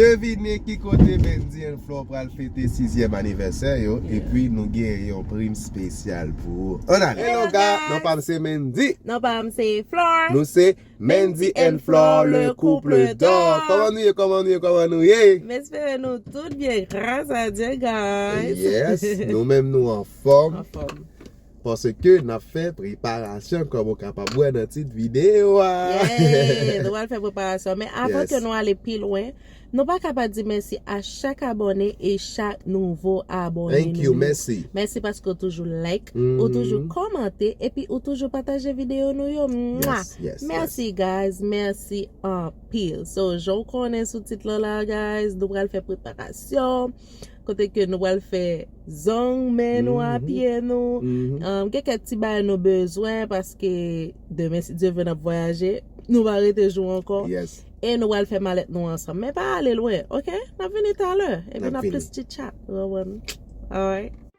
Devine ki kote Bendy and Flore pral fete sizyèm anivèsè yo epi nou gen yon prim spesyal pou ou. An ale! Hello ga! Non pa m se Mendy. Non pa m se Flore. Nou se Mendy and Flore le couple d'or. Kòman nou ye, kòman nou ye, kòman nou ye? M espere nou tout byen gras a Dye guys. Yes, nou menm nou anfòm. Anfòm. Paske nap fè preparasyon kòm ou kapab wè nan tit videyo a. Yeah! Nou pral fè preparasyon. Men avan ke nou ale pi lwen, nou pa ka pa di mèsi a chak abòne e chak nouvo abòne nou yo. Thank you, mèsi. Mèsi paske ou toujou like, ou toujou kòmante, epi ou toujou pataje videyo nou yo. Mwah! Yes, yes, yes. Mèsi guys, mèsi anpil. So, jan ou konnen sou tit lan la guys, nou pral fè preparasyon. Kote ke nou pral fè zong men nou a pye nou Gen kèk ti bagay nou bezwen paske demen si Dye vle n ap vwayaje Nou va rete jou ankò E nou pral fè malèt nou ansanm Men pa ale lwen ok N ap vini talè epi n ap plis chitchat ou konprann Alright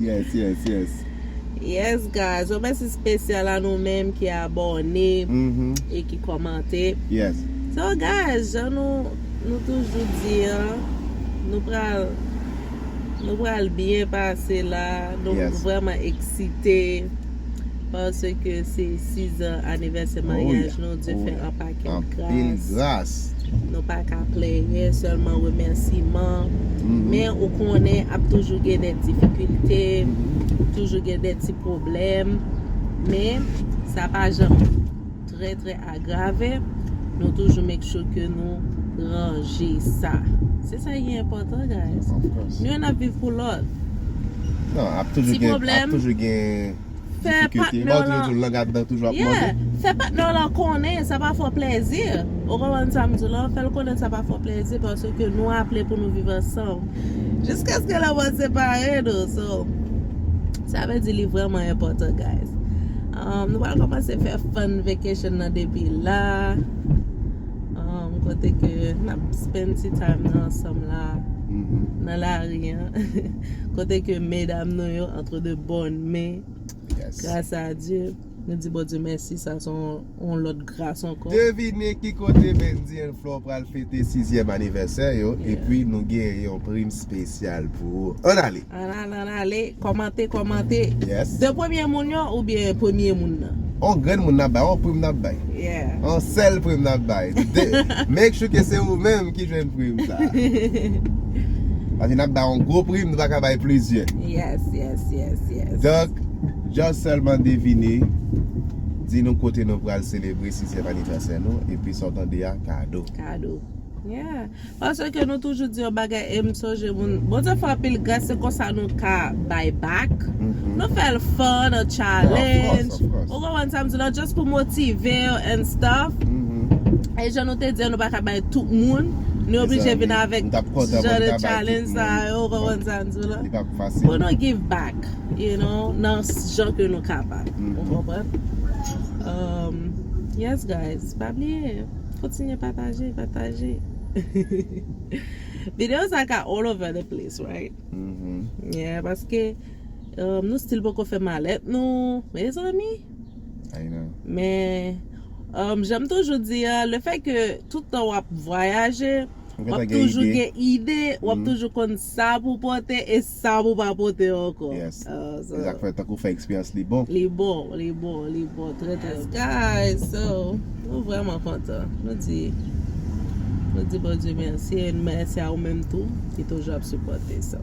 Yes yes yes. Yes guys yon mèsi spesyal a nou menm ki abòne e ki kòmante. Yes. So guys jan nou nou toujou di an nou pral nou pral byen pase la nou vrèman eksite. Paske se 6 ans anivèsè maryaj nou, Dye fè anpil gras. Nou pa ka plenyen, sèlman remèsiman. Men ou konnen ap toujou gen de difikilte, toujou gen de ti pwoblèm. Men sa pa janm. trè trè agrave nou toujou make sure ke nou ranje sa se sa ki enpòtan guys nou youn ap viv pou lòt ti pwoblèm fè patnè w lan yeah fè patnè w lan konnen sa pa fè w plèzi ou konprann sa m di w la fè l konnen sa pa fè w plèzi paske nou aple pou nou viv ansanm jiskaske lanmò separe nou sa vle di li vrèman enpòtan guys Nou pral komanse fè fun vacation nan depi la Kote ke nap spend ti time nan ansanm la Nan lari an Kote ke medam nou yo entre de bonne main Gras a Dieu Nou di Bondye mèsi sa son yon lòt gras ankò Devine ki kote Bendy and Flore pral fete sizyèm anivèsè yo Epi nou gen yon prim spesyal pou ou Ann ale! Ann ale ann ale kòmante kòmante Yes. 2 premye moun yo oubyen premye moun nan? On grenn moun nap bay, on prim nap bay. Yeah. On sèl prim nap bay. Make sure ke se ou menm ki jwenn prim sa. Paske nap bay on gwo prim, nou pa ka bay plizyè. Yes, yes, yes, yes. Donk, just sèlman devine, di nou kote nou pral selebre sizyèm anivèsè nou, epi sa w tande a, kado. Kado. Yeah. Paske nou toujou di yon bagay em sonje moun Bondye fè anpil gras se konsa nou ka bay back nou fèl fun an challenge ou konprann sam di la just pou motivew and stuff e jan nou te di an nou paka bay tout moun nou oblije vin avèk ti jan de challenge sa yo ou konprann sam di la pou nou give back you know nan jan ke nou kapab ou konprann yes guys pa bliye. Kontinye pataje, pataje. Video sa ka all over the place right? Yeah, paske nou stil poko fè malèt nou, mezanmi. I know. Men, janm toujou di a, le fè ke tout tan wap vwayaje, wap toujou gen ide, wap toujou konn sa pou pote. Sa pou pa pote ankò. Yes se sak fè tankou fè eksperyans li bon. Li bon li bon li bon trè trè bon. Guys so nou vrèman kontan nou di nou di Bondye mèsi e nou mèsi a ou menm tou ki toujou ap sipòte so.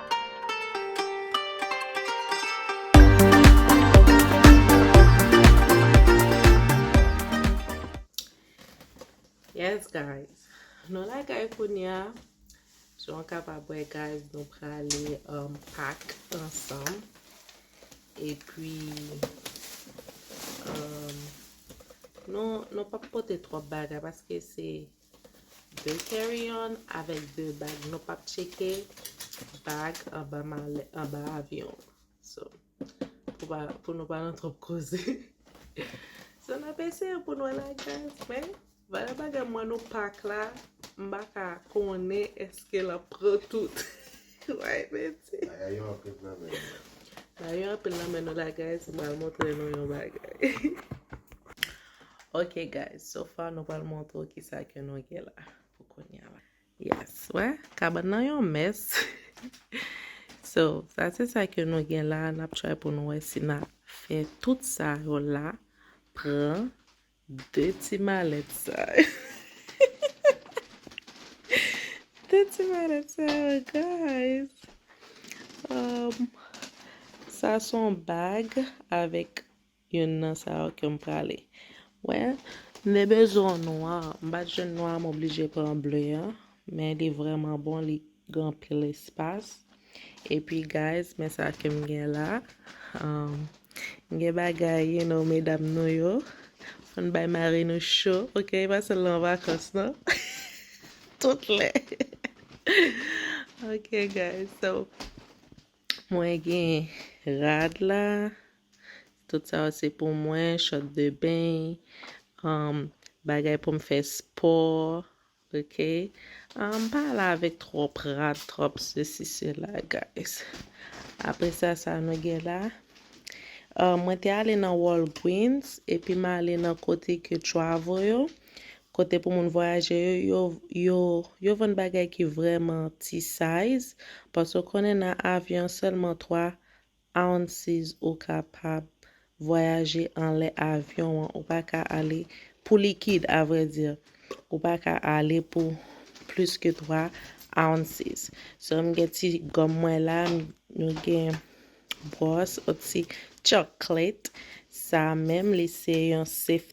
Yes guys, nou la kay kounya Jan w kapab wè guys nou prale um, pak ansanm E pi um, nou, nou pap pote twòp bagay paske se 2 carry on avèk 2 bag nou pap tcheke bag anba malè anba avyon so pou pa pou nou pa nan twòp koze so n ap eseye pou n wè lagaz men valè bagay m wè nou pak la m pa ka konnen èske l ap pran tout. Bagay yo anpil nan men nou. Bagay yo anpil nan men nou la guys. M pral montre nou yon bagay. Ok guys, so far nou pral montre w ki sa ke nou gen la pou kounya la. Yes, wè? Kabann nan yon mès. So, sa se sa ke nou gen la. N ap try pou nou wè si n a fè tout sa yo la pran De ti malèt sa yo. De ti malèt sa yo guys. Um, sa son bag avèk yon nan sa yo ke m prale. Wè, m de bezon nwa. M bat jwenn nwa m oblije pran ble an. Men li vreman bon, li gen anpil espas epi guys men sa kem gen la um, m gen bagay you know medam nou yo fòn bay mari nou cho ok pa sèlman an vakans non tout lè ok guys so mwen gen rad la tout sa yo se pou mwen shot de beny um, bagay pou m fè spò Ok m pa ale avèk tròp rad tròp sesi sela guys apre sa sa nou gen la mwen te ale nan Walgreens epi m ale nan kote ke travel yo kote pou moun vwayaje yo yo yo vann bagay ki vrèman ti size paske w konnen nan avyon sèlman 3 Ounces ou kapab vwayaje anlè avyon an ou pa ka ale pou likid a vrai dire ou pa ka ale pou plis ke 3 ounces so m gen ti gòm mwen la nou gen bwòs ou ti chocolate sa menm li se yon safety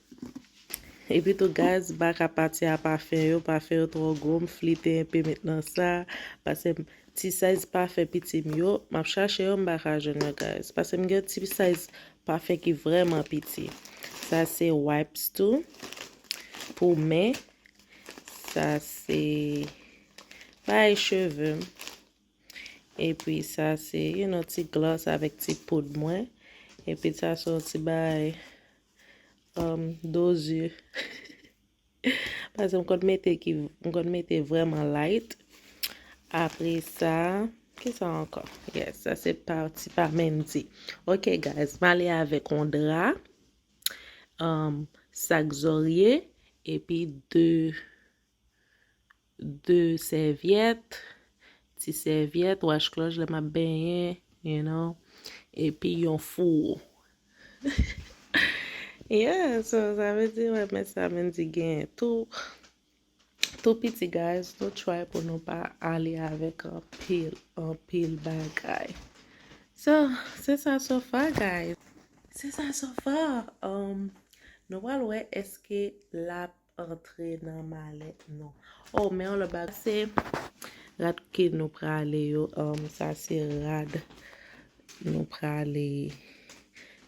Epi tou guys baka pati a pafen yo pafen yo trò gwo m flite enpe met nan sa pasem ti size pafen pitim yo map chache yo m baka jwenn yo guys pasem gen ti size pafen ki vreman piti sa se wipes tou pou men sa se bay cheve m epi sa se you no ti gloss avèk ti poud mwen epi sa se yon ti bay Um dozur Paske m konn mete ki m konn mete vreman light. Apre sa, ki sa ankò? Yes, sa se pati pa Mendy. Ok guys, m ale avèk on dra, um, sak zorye, epi de 2 sèvyèt, ti sèvyèt, wach klòch lè map benyen, you know, epi yon fouwo. Yeah, so sa vle di wè men sa men di gen tou tou piti guys nou try pou nou pa ale avèk anpil anpil bagay. So, se sa so far guys. Se sa so far. Um nou pral wè eske lap Antre nan malèt nou. Oh men yon lòt bagay se rad ke nou prale yo um sa se rad nou prale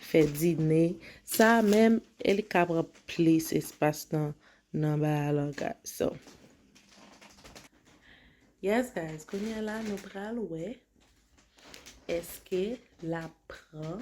fè dine sa menm e li ka pran plis espas nan nan bay a lan ga so yes guys kounya la nou pral wè eske lap pran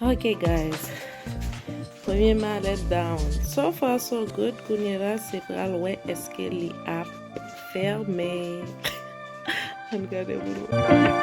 Ok guys Premye malèt down So far so good Kounye la se pral wè eske li ap fèmen Ann gade moun wè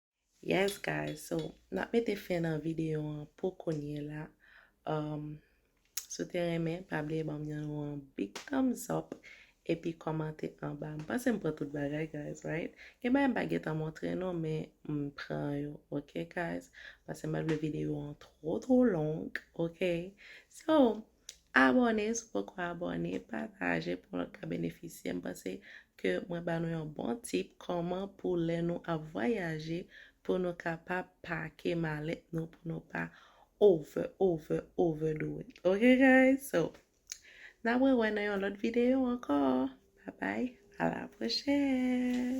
Yes guys so nap mete fen nan video an pou kounye la um, Si w te renmen pa bliye banm yon nou an big thumbs up epi kòmante anba m panse m pran tout bagay guys right gen bagay m pa gentan montre nou men m pran yo ok guys panse m pa vle video an twò twò long ok so Abòne si w poko abòne, pataje pou lòt ka benefisye. M panse ke mwen ba nou yon bon tip kòman pou lè nou ap vwayaje pou nou ka pa pake malèt nou pou nou pa over over over do it ok guys so n ap rewè nan yon lòt videyo ankò babay a la pwochèn.